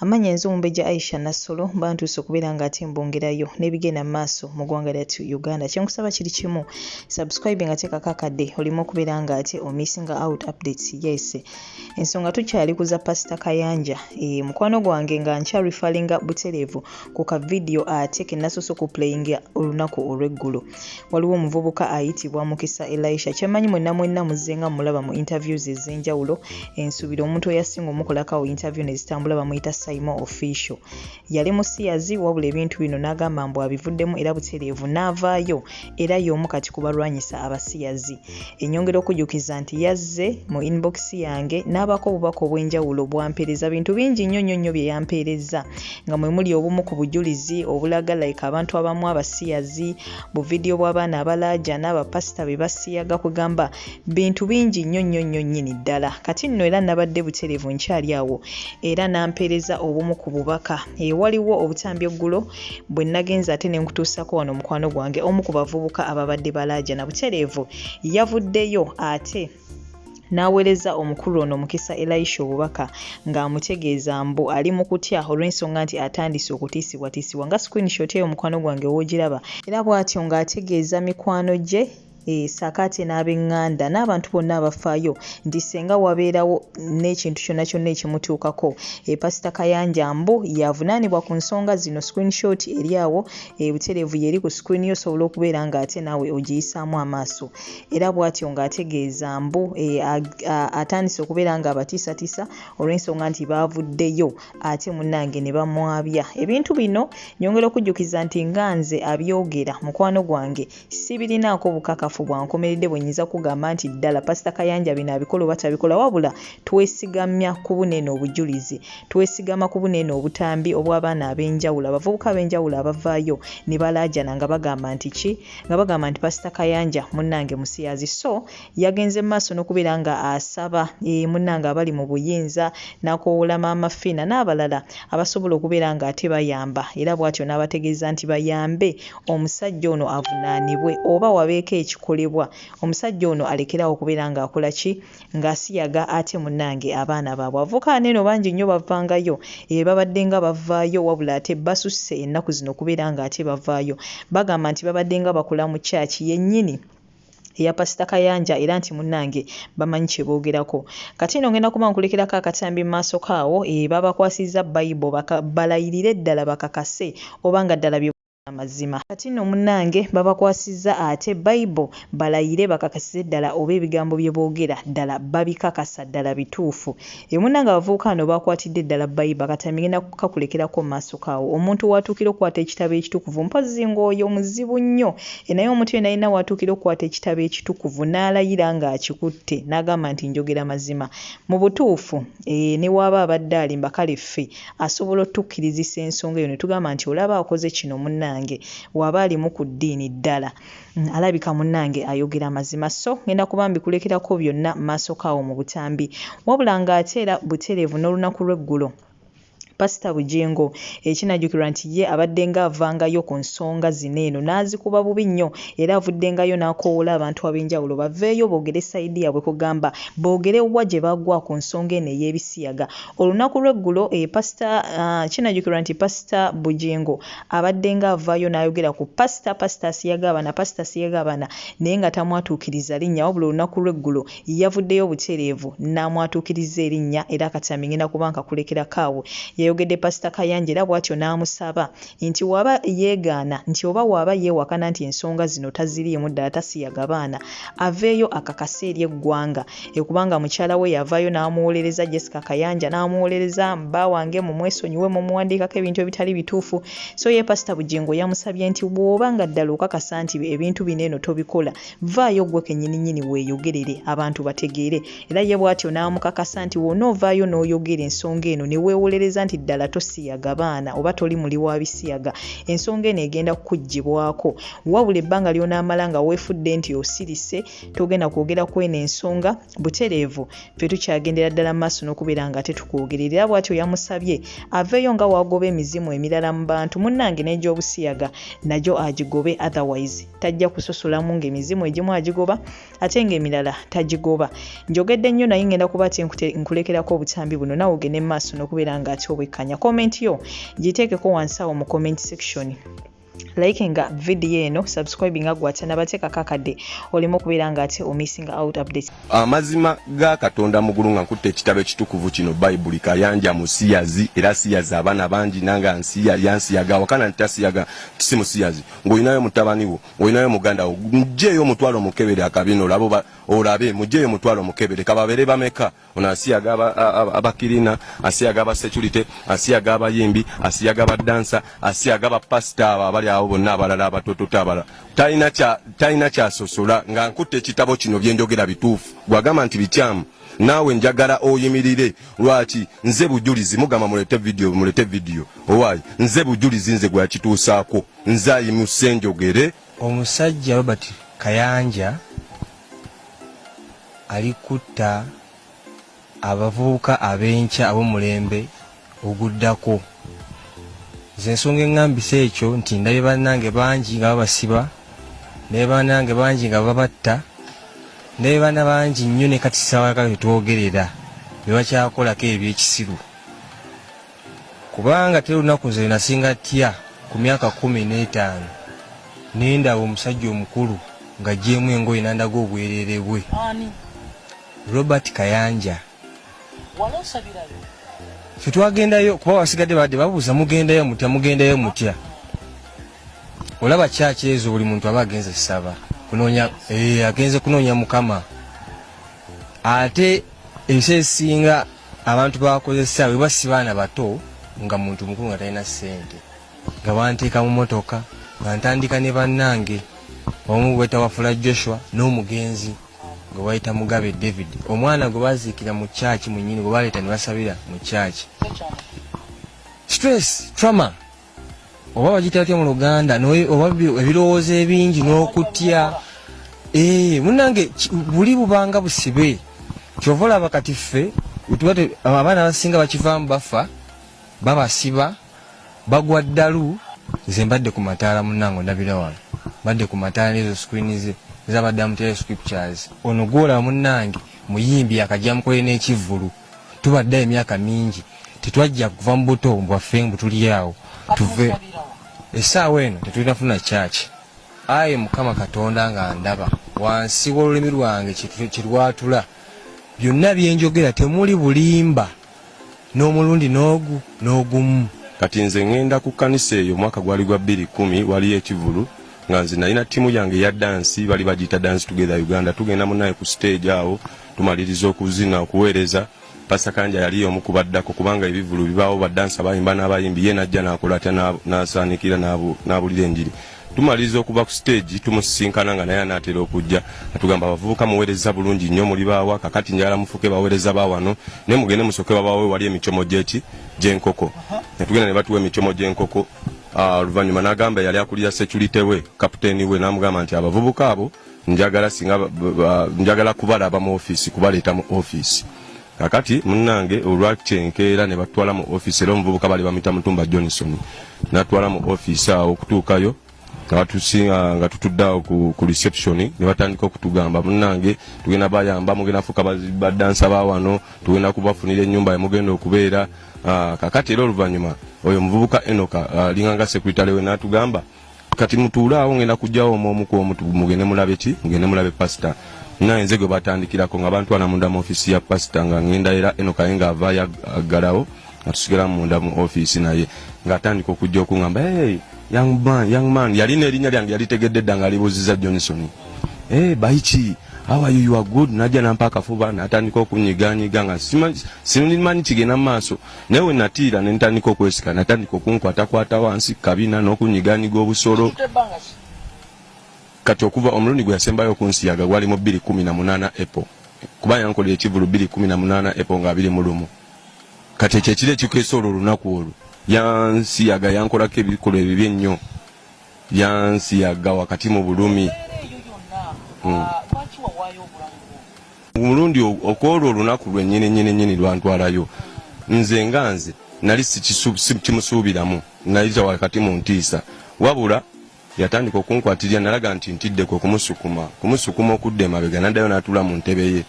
Amanya nze omumbejja Aisha Nassolo bantuuse okubeera nga ate mbongerayo n'ebigenda mu maaso mu ggwanga lyattu Uganda. Kye nkusaba kiri kimu, subscribe nga teekako akadde oleme okubeera nga ate omissinga out updates. Yes, ensonga tukyali ku za Pasita Kayanja. E, mukwano gwange nga nkya referringa butereevu ku ka vidiyo ate ke nasoose okuplayinga olunaku olw'eggulo. waliwo omuvubuka ayitibwa mukisa elisha kyemanyi mwenna mwenna muzze nga mulaba mu interviews ez'enjawulo ensuubira omuntu eyasinga omukolakawo interview nezitambula bamuyita saimo official yali musiyazi wabula ebintu bino n'agamba mbu abivuddemu era butereevu n'avaayo era y'omu kati kubalwanyisa abasiyazi Enyongera okujukiza nti yazze mu inbox yange n'abaako obubaka obw'enjawulo bwampeereza bintu bingi nnyo nnyo nnyo bye yampeereza nga mwe muli obumu ku bujulizi obulaga like abantu abamu abasiyazi bu vidiyo bw'abaana abalaajana bapasita be basiyaga kwegamba bintu bingi nnyo nnyo nnyo nnyini ddala kati nno era nabadde butereevu nkyali awo era n'ampeereza obumu ku bubaka ewaliwo obutambi eggulo bwe nagenze ate ne nkutuusako wano mukwano gwange omu ku bavubuka ababadde balaajana butereevu yavuddeyo ate n'aweereza omukulu ono mukisa elisha obubaka ng'amutegeeza mbu ali mu kutya olw'ensonga nti atandise okutiisibwatiisibwa nga screenshot eyo mukwano gwange w'ogiraba era bw'atyo ng'ategeeza mikwano gye Eh, sakati n'abenganda n'abantu bonna abafaayo nti senga wabeerawo n'ekintu kyonna kyonna ekimutuukako eh, pasita kayanja mbu yavunaanibwa ku nsonga zino screenshot eri awo eh, butereevu yeri ku screen yo osobola okubeera ng'ate naawe ogiyisaamu amaaso era bw'atyo ng'ategeeza mbu atandise okubeera ng'abatiisatiisa olw'ensonga nti baavuddeyo ate munnange ne bamwabya ebintu bino nyongera okujjukiza nti nga nze abyogera mukwano gwange sibirinaako bukakafu bwa nkomeredde bwe nnyinza kugamba nti ddala pasita kayanja bino abikola oba tabikola wabula twesigamya ku buneeno obujulizi twesigama ku buneeno obutambi obw'abaana ab'enjawulo abavubuka ab'enjawulo abavaayo ne balaajana nga bagamba nti ki nga bagamba nti pasita kayanja munnange musiyazi so Yagenze mu maaso n'okubeera nga asaba eeh munnange abali mu buyinza n'akowoola Maama Fiina n'abalala abasobola okubeera nga ate bayamba era bwatyo n'abategeeza nti bayambe omusajja ono avunaanibwe oba wabeeko ekikolebwa omusajja ono alekere awo okubeera nga akola ki? nga asiyaga ate munnange abaana baabwe avuka neeno bangi nnyo bavangayo eeh babaddenga bavaayo wabula ate basusse ennaku zino okubeera nga ate bavaayo bagamba nti babaddenga bakola mu church yennyini eya pasita kayanja era nti munange bamanyi kyebogerako kati no ngenda kuba nkulekerako akatambi mumaaso kaawo e babakwasizza bayibo balayirire ddala bakakase oba nga ddala amazima kati no munange babakwasizza ate bayibo balayire bakakasize ddala oba ebigambo byebogera ddala babikakasa ddala bituufu Ye munnange abavubuka bano baakwatidde ddala Bayiba kati ngenda kukakulekerako mu maaso kaawo. Omuntu w'atuukira okukwata ekitabo ekitukuvu mpozzi ng'oyo muzibu nnyo. E naye omuntu yenna yenna w'atuukira okukwata ekitabo ekitukuvu n'alayira ng'akikutte n'agamba nti njogera mazima, mu butuufu, ee, ne bw'aba abadde alimba kale ffe asobola otukkirizisa ensonga eyo ne tugamba nti olaba akoze kino munnange, w'aba alimu ku ddiini ddala. Mm, alabika munnange ayogera amazima so ngenda kuba mbikulekerako byonna maaso kaawo mu butambi wabula ng'ate era butereevu n'olunaku lw'eggulo pasita bugingo ekinajjukirwa nti ye abaddenga avangayo ku nsonga zino eno n'azikuba bubi nnyo era avuddengayo n'akowoola abantu ab'enjawulo baveeyo boogere sayidi yaabwe kugamba boogere wa gye bagwa ku nsonga eno ey'ebisiyaga olunaku lw'eggulo eh, pasita ah, kinajjukirwa nti pasita bugingo abaddenga avaayo n'ayogera ku pasita pasita asiyaga abana pasita asiyaga abana naye nga tamwatuukiriza linnya wabula olunaku lw'eggulo yavuddeyo butereevu n'amwatuukiriza erinnya era akatyaambi ngenda kuba nkakulekerako awo yayogedde pasita Kayanja era bwatyo n'amusaba nti waba yeegaana nti oba waaba yeewakana nti ensonga zino taziriimu ddala tasiyaga baana aveeyo akakase eri eggwanga ekubanga mukyala we yavayo n'amuwolereza jessica kayanja n'amuwolereza bba wange mumwesonyiwe mumuwandiikako ebintu ebitali bituufu so ye pasita bugingo yamusabye nti bw'oba nga ddala okakasa nti ebintu bino eno tobikola vaayo gwe kenyininyini weeyogerere abantu bategeere era ye bw'atyo n'amukakasa nti wona ovaayo n'oyogera ensonga eno ne weewolereza nti ddala tosiyaga baana oba toli muli wa bisiyaga ensonga eno egenda kukuggyibwako wabula ebbanga ly'onaamala nga weefudde nti osirise togenda kwogera ku eno ensonga butereevu ffe tukyagendera ddala mu maaso n'okubeera nga ate tukwogerera era bwatyo yamusabye aveeyo nga wagoba emizimu emirala mu bantu munnange n'egyobusiyaga nagyo agigobe otherwise tajja kusosolamu ng'emizimu egimu agigoba ate ng'emirala tagigoba njogedde nnyo naye ngenda kuba ate nkulekerako obutambi buno nawe ogende mu maaso n'okubeera nga ate obwekkanya komenti yo giteekeko wansi awo mu comment section like nga video eno subscribe nga gwatya nabateeka kakadde olimu okubeera nga ate omissing out update amazima ga katonda mugulu nga nkutte ekitabo ekitukuvu kino bayibuli kayanja musiyazi era siyazi abaana bangi nanga nsiya yansiyaga wakana nti tasiyaga si musiyazi ng'olinayo mutabani wo ng'olinayo muganda wo mugyeyo omutwalo omukebere akabino olabo olabe mugyeyo omutwalo omukebere kababeere bameka ono asiyaga abakirina asiyaga abasecurity asiyaga abayimbi asiyaga abadansa asiyaga abapasita abo abali awo bonna abalala abatototo abala talina kyasosola nga nkutte ekitabo kino byenjogera bituufu gwagamba nti bikyamu naawe njagala oyimirire lwaki nze bujulizi mugamba mulete vidiyo mulete vidiyo owaayi nze bujulizi nze gweyakituusaako nze ayimuse njogere omusajja robert kayanja ali kutta abavubuka ab'enkya ab'omulembe oguddako. Nze ensonga eŋŋambisa ekyo nti ndabye bannange bangi nga babasiba, ndabye bannange bangi nga babatta, ndabye baana bangi nnyo ne kati ssaawa yaka tetwogerera be bakyakolako ebyekisiru. Kubanga teri lunaku nze lwe nasinga tya ku myaka kkumi n'etaano ne ndaba omusajja omukulu ng'aggyeemu engoye n'andaga obwereere bwe. Robert Kayanja. Ffe twagendayo kuba wasigadde baadde babuuza mugendayo mutya mugendayo mutya olaba kyaki ezo buli muntu aba agenze saba kunonya eh, agenze kunonya mukama ate ensi esinga abantu bakozesa weba si baana bato nga muntu mukulu nga talina ssente nga banteeka mu motoka nga ntandika ne bannange omu bwetawafula joshua n'omugenzi gwe bayita mugabe david omwana gwe baziikira mu kyaki munyini gwe baleeta ne basabira mu kyaki stress trauma oba bagita atya mu luganda oba ebirowoozo ebingi n'okutya eh, munange buli bubanga busibe kyova olaba kati ffe abaana abasinga bakivaamu bafa babasiba bagwa ddalu nze mbadde ku mataala munange ondabira wano mbadde ku mataala nezo screen ze zabadde amutera scriptures ono gwolaba munange muyimbi akajja mukolere n'ekivvulu tubadde emyaka mingi tetwajja kuva mu buto bwaffe mbu tuli awo tuve essaawa eno tetulina funa kyaki ayi mukama katonda nga ndaba wansi w'olulimi lwange kirwatula byonna byenjogera temuli bulimba n'omulundi n'ogu n'ogumu kati nze ŋŋenda ku kkanisa eyo omwaka gwali gwa bbiri kkumi waliyo ekivulu nga nze nalina ttiimu yange ya dansi bali bagiyita dansi together uganda tugenda munaye ku siteegi awo tumaliriza okuzina okuweereza pasa kanja yali omu ku baddako kubanga ebivulu bibaawo badansa bayimba n'abayimbi ye najja n'akola atya n'asaanikira n'abulira enjiri tumaliriza okuva ku siteegi tumusisinkana nga naye anaatera okujja atugamba abavubuka muweereza bulungi nnyo muli baawa kakati njagala mufuuke baweereza ba wano ne mugende musooke babawe wali emicomo gyeki gy'enkoko ne tugenda ne batuwa emicomo gy'enkoko ah, oluvannyuma n'agamba yali akulira securite we kapiteeni we n'amugamba nti abavubuka abo njagala singa njagala kubalaba mu office kubaleeta mu office kakati munange olwakyenkeera ne batwala mu office era omuvubuka bali bamita mutumba johnson natwala mu office awo okutuukayo abatusinga nga tutudde awo ku reception ne batandika okutugamba munange tugenda bayamba mugenda fuka badansa ba wano tugenda kubafunira ennyumba yemugenda okubeera ah, kakati era oluvannyuma oyo omuvubuka enoka ah, linganga sekuritale we natugamba kati mutuule awo ngenda kujjawo omu omu kwomu mugende mulabe ki mugende mulabe pasita naye nze gwe batandikirako nga bantu ana munda mu ofisi ya pasita nga ngenda era eno kaye nga avaayo aggalawo nga tusigala munda mu ofisi naye ng'atandika okujja okungamba hey, young man, young man. yalina erinnya lyange yalitegedde dda ng'alibuuziza johnson hey, baiki how are you, you are good najja nampa akafuba natandika okunyiganyiga nga simanyi kigenda mu maaso naye we natiira ne ntandika okwesika natandika okunkwatakwata wansi kabina n'okunyiganyiga obusolo kati okuva omulundi gwe yasembayo okunsiyaga gwali mu bbiri kumi na munaana epo kuba yankolera ekivulu bbiri kumi na munaana epo nga abiri mu lumu kati ekyo ekiro ekikeesa olwo olunaku olwo yansiyaga yankolako ebikolwa ebibi ennyo yansiyaga wakati mu bulumi hmm. omulundi okwolwo olunaku lwenyini nyini nyini lwantwalayo nze nga nze nali sikimusuubiramu nayita wakati mu ntiisa wabula yatandika okunkwatirira nalaga nti ntidde kwe kumusukuma kumusukuma okudda emabega naddayo n'atuula mu ntebe ye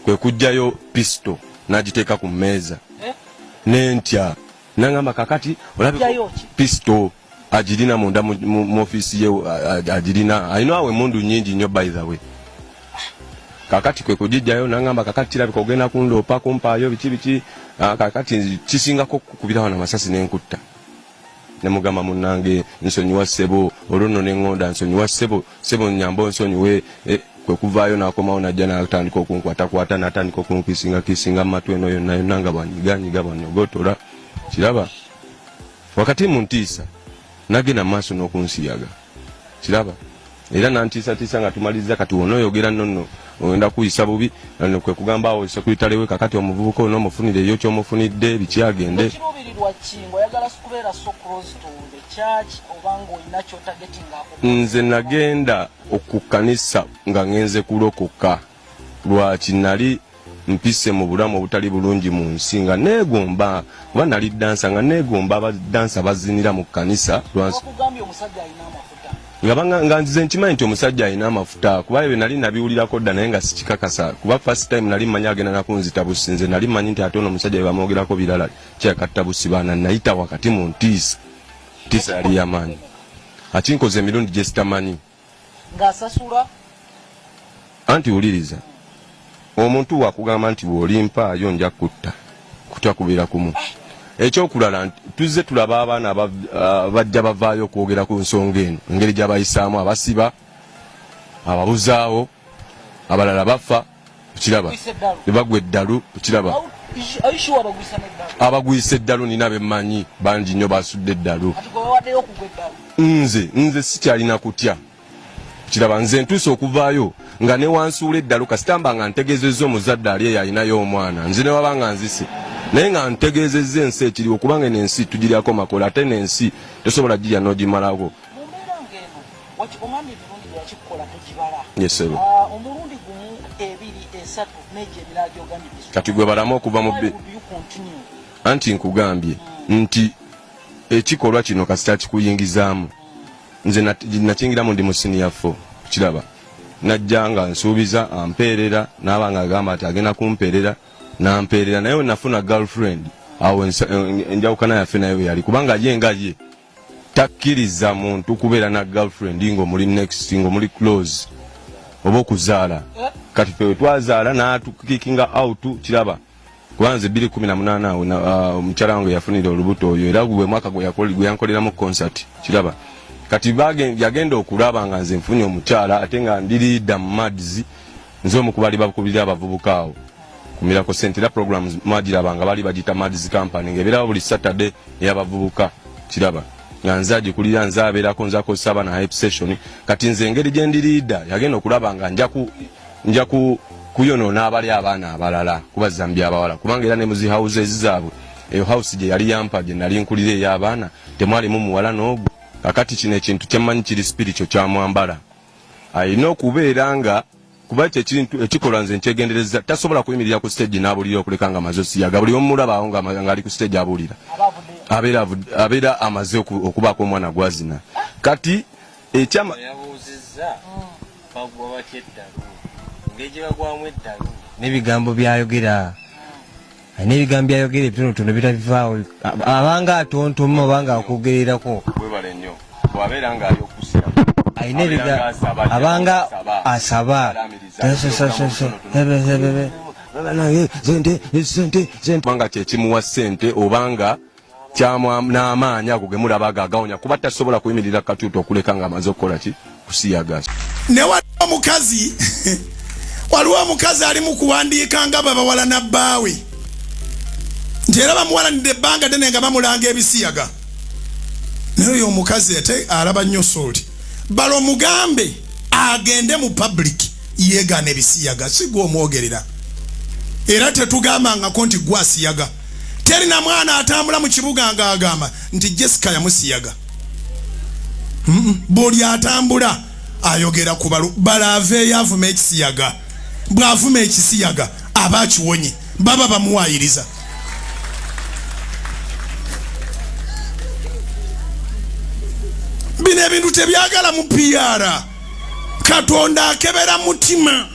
kwe kujjayo pisito n'agiteeka ku mmeeza nentya nangamba kakati olabye pisito agirina munda mu offiisi ye agirina alina awo emundu nyingi nnyo by the way kakati kwe kugijjayo nangamba kakati kirabika ogenda kundoopa kumpaayo biki biki ah, kakati kisingako kukubira wano amasasi nenkutta nemugamba munange nsonyiwa ssebo olwono neŋŋonda nsonyiwa ssebo ssebo nyamba onsonyiwe eh, kwe kuvaayo nakomawo najja natandika okunkwatakwata natandika okunkisinga kisinga mu matu eno yonna yonna nga bwanyiganyiga bwanyogotora kiraba wakati mu ntiisa nagenda maaso n'okunsiyaga kiraba era nantiisatiisa nga tumalizza kati wona oyogera nonno ogenda kuyisa bubi kwe kugamba awo sekulitalewe kakati omuvubuka olina omufuniraeyo kyomufunidde bikyagende nze nagenda okukanisa nga ngenze kulokoka Lwaki? Nnali mpise mu bulamu obutali bulungi mu nsi nga neegomba kuba nnali ddansa nga neegomba abaddansa bazinira mu kkanisa lwansi nga nzize nkimanyi nti omusajja alina amafuta kuba ebyo nali nabiwulirako dda naye nga sikikakasa kuba first time nali manyi agenda nakunzita busi nze nali manyi nti ate ono omusajja bebamwogerako birala kyakatta busi baana nayita wakati mu ntiisa ntiisa yali yamaanyi akinkoza emirundi gyesitamanyi ng'asasula anti wuliriza omuntu wakugamba nti bw'olimpaayo nja kutta kutya kubeera kumu eh. ekyokulala tuzze tulaba abaana ah, bajja bavaayo okwogera ku nsonga eno engeri gyabayisaamu abasiba ababuzaawo abalala bafa okiraba nebagwa eddalu okiraba abagwisa eddalu nina bemanyi bangi nnyo basudde eddalu nze nze sikyalina kutya kiraba nze ntuuse okuvaayo nga newansuula eddalu kasitamba nga ntegezezza omuzadde ali eyo alinayo omwana nze newaba nga nzise naye nga ntegezezza ensi ekiriwo kubanga eno ensi tugiryako makola ate nensi tosobola girya nogimalako wakigumamye emirundi gye wakikola togibala ah, omulundi gumu ebiri esatu nejo ebirala gyogamidde kati gwe balamu okuva mu anti nkugambye hmm. nti ekikolwa kino kasita kikuyingizaamu nze nakingiramu ndi musiniya fo kiraba najja nga nsuubiza ampeerera naaba nga agamba nti agenda kumpeerera nampeerera naye wenafuna girlfriend awo enjawukana yaffe naye weyali kubanga ye nga ye takkiriza muntu kubeera na girlfriend ng'omuli next ng'omuli close oba okuzaala kati fe wetwazaala natukikinga out kiraba kubanze biri kumi na munaana awo uh, omukyala wange yafunira olubuto oyo era gwe mwaka gweyankoleramu concert kiraba kati yagenda okulaba nga nze nfunye omukyala ate nga ndiriida mu mads nze omu kubali bakubirira abavubuka awo ku Miracle Center era programs mwagiraba nga bali bagita Mads Company nga ebeerawo buli Saturday eyabavubuka kiraba nga nze agikulira nze abeerako nze akozesa abaana hype session kati nze engeri gye ndi liida yagenda okulaba nga njaku njaku kuyonoona abali abaana abalala kuba zambi abawala kubanga era ne muzi houses zaabwe eyo house gye yali yampa gye nali nkulira ey'abaana temwalimu muwala n'ogu kakati kino ekintu kyemmanyi kiri spiritual kyamwambala alina okubeera nga kuba ekyo ekintu ekikolwa nze nkyegendereza tasobola kuyimirira ku stage n'abulira okuleka nga amaze osiyaga buli omulabaawo ng'ali ku stage abulira abeera amaze okubaako omwana gwazina kati ekyama nebigambo byayogera n'ebigambo byayogera ebitonotono bitabivaawo abanga atontoma obanga akwogererako webale nnyo bwabeera nga ali okusia alina abanga asaba sente sente sente kubanga kyekimuwa sente obanga kyamwa n'amaanyi ago ge mulaba ago agawonya kuba tasobola kuyimirira katuuti okuleka ng'amaze okukola ki kusiyagaza ne waliwo omukazi waliwo omukazi ali mu kuwandiika nga babawala na bbaawe nti era bamuwalanidde ebbanga ddene nga bamulanga ebisiyaga naye oyo omukazi ate alaba nnyo sooti bala omugambe agende mu public yeegaana ebisiyaga sigwa omwogerera era tetugambangako nti gwasiyaga teri na mwana atambula mu kibuga nga agamba nti jessica yamusiyaga buli atambula ayogera ku balu bala aveeyo avuma ekisiyaga bw'avuma ekisiyaga aba akiwonye baba bamuwaayiriza bino ebintu tebyagala mu piara katonda akebera mutima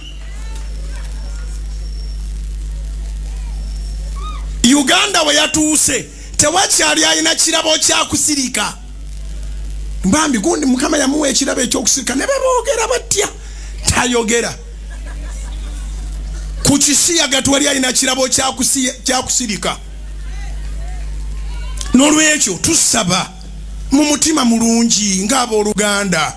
uganda we yatuuse tewakyali alina kirabo kyakusirika bambi gundi mukama yamuwa ekirabo ekyokusirika ne bebogera batya tayogera ku kisiyaga twali alina kirabo kyakusirika n'olwekyo tusaba mu mutima mulungi ng'abooluganda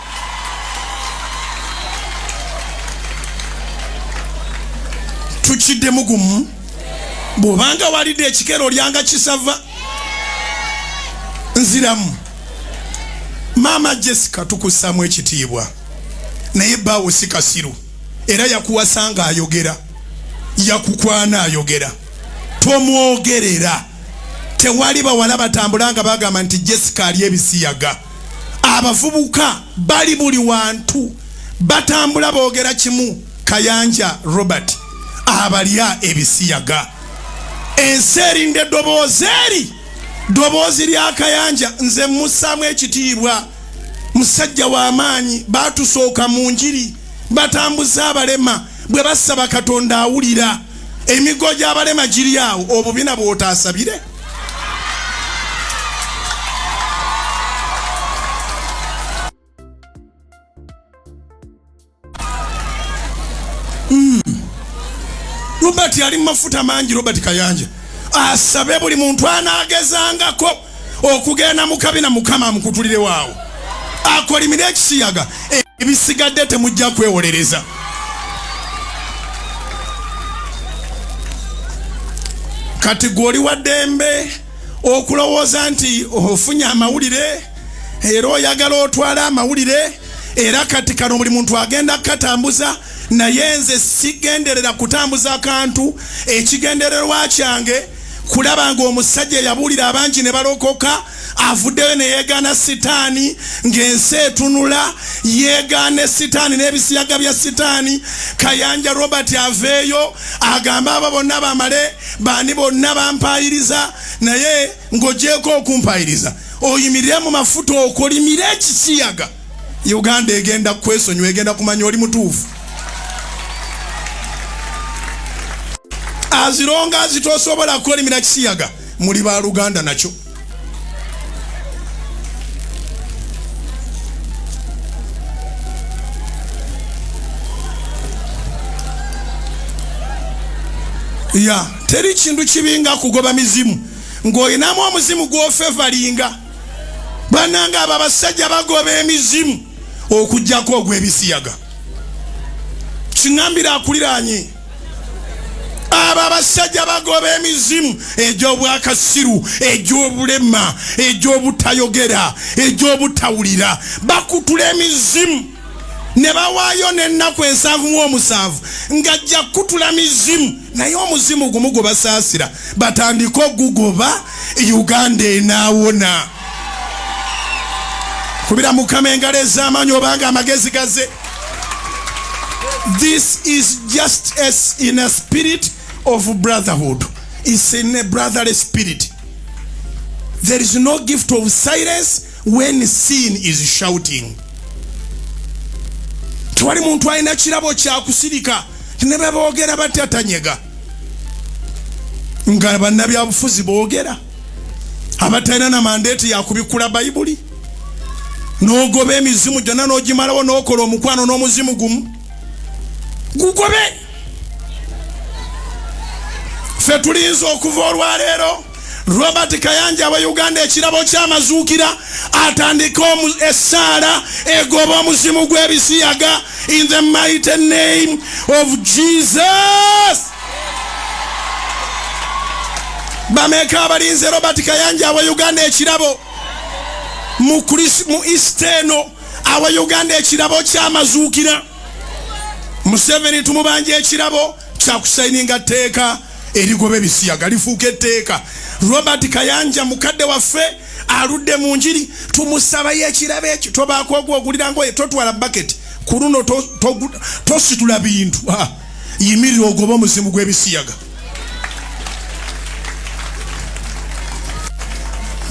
tukiddemu gumu bwobanga walidde ekikero olyanga kisava nziramu maama jessica tukussaamu ekitiibwa naye baawo si kasiru era yakuwasanga ayogera yakukwana ayogera tomwogerera tewali bawala batambula nga bagamba nti jessica ali ebisiyaga abavubuka bali buli wantu batambula boogera kimu kayanja robert abalya ebisiyaga ensi erinda eddoboozi eri ddoboozi lya kayanja nze musaamu ekitiibwa musajja w'amaanyi baatusooka mu njiri batambuza abalema bwe basaba katonda awulira emigo gy'abalema giri awo obubina bw'otaasabire Hmm. robert ali mu mafuta mangi robert kayanja asabe buli muntu anagezangako okugenda mukabina mukama amukutulirewo awo akolimire ekisiyaga ebisigadde temujja kwewolereza kati gwe oli wa ddembe okulowooza nti ofunye amawulire era oyagala otwale amawulire era kati kano buli muntu agenda kukatambuza naye nze sigenderera kutambuza kantu ekigendererwa kyange kulaba nga omusajja yabuulira abangi ne balokoka avuddeyo ne yeegaana sitaani ng'ensi etunula yeegaane sitaani n'ebisiyaga bya sitaani kayanja robert aveeyo agambe abo bonna bamale baani bonna bampaayiriza naye ng'ogyeko okumpaayiriza oyimirire mu mafuta okolimire ekisiyaga uganda egenda kwesonyiwa egenda kumanya oli mutuufu azironga azitosobola kukolimira kisiyaga muli ba luganda nakyo ya teri kintu kibi nga kugoba mizimu ng'olinamu omuzimu gw'ofevalinga bananga abo abasajja bagoba emizimu okugyako ogw'ebisiyaga kiŋambira akuliranye abo abasajja bagoba emizimu egy'obwakasiru egy'obulema egy'obutayogera egy'obutawulira bakutula emizimu ne bawaayo n'ennaku ensanvu mu omusanvu ng'ajja kukutula mizimu naye omuzimu gumu gwe basaasira batandike ogugoba uganda enaawona kubira mukama engalo ez'amaanyi obanga amagezi gaze this is just as in a spirit of brotherhood is in a brotherly spirit there is no gift of silence when sin is shouting tewali muntu alina kirabo kyakusirika ne beboogera batya tanyega nga bannabyabufuzi boogera abatalina na mandeeti yakubikkula bayibuli n'ogoba emizimu gyonna n'ogimalawo n'okola omukwano n'omuzimu gumu gugobe ffe tulinza okuva olwaleero robert kayanja wa uganda ekirabo kyamazuukira atandika essaala egoba omuzimu gw'ebisiyaga in the mighty name of jesus bameka abalinze robert kayanja awa uganda ekirabo mu east eno awa uganda ekirabo kyamazuukira museveni tumubanja ekirabo kyakusayininga tteeka erigoba ebisiyaga lifuuka etteeka robert kayanja mukadde waffe aludde mu njiri tumusabayo ekirabo ekyo tobaako ogwogulira ngoye totwala baketi ku luno tositula bintu yimirira ogoba omuzimu gw'ebisiyaga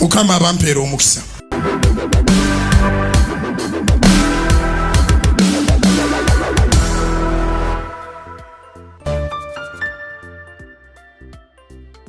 mukama abampeera omukisa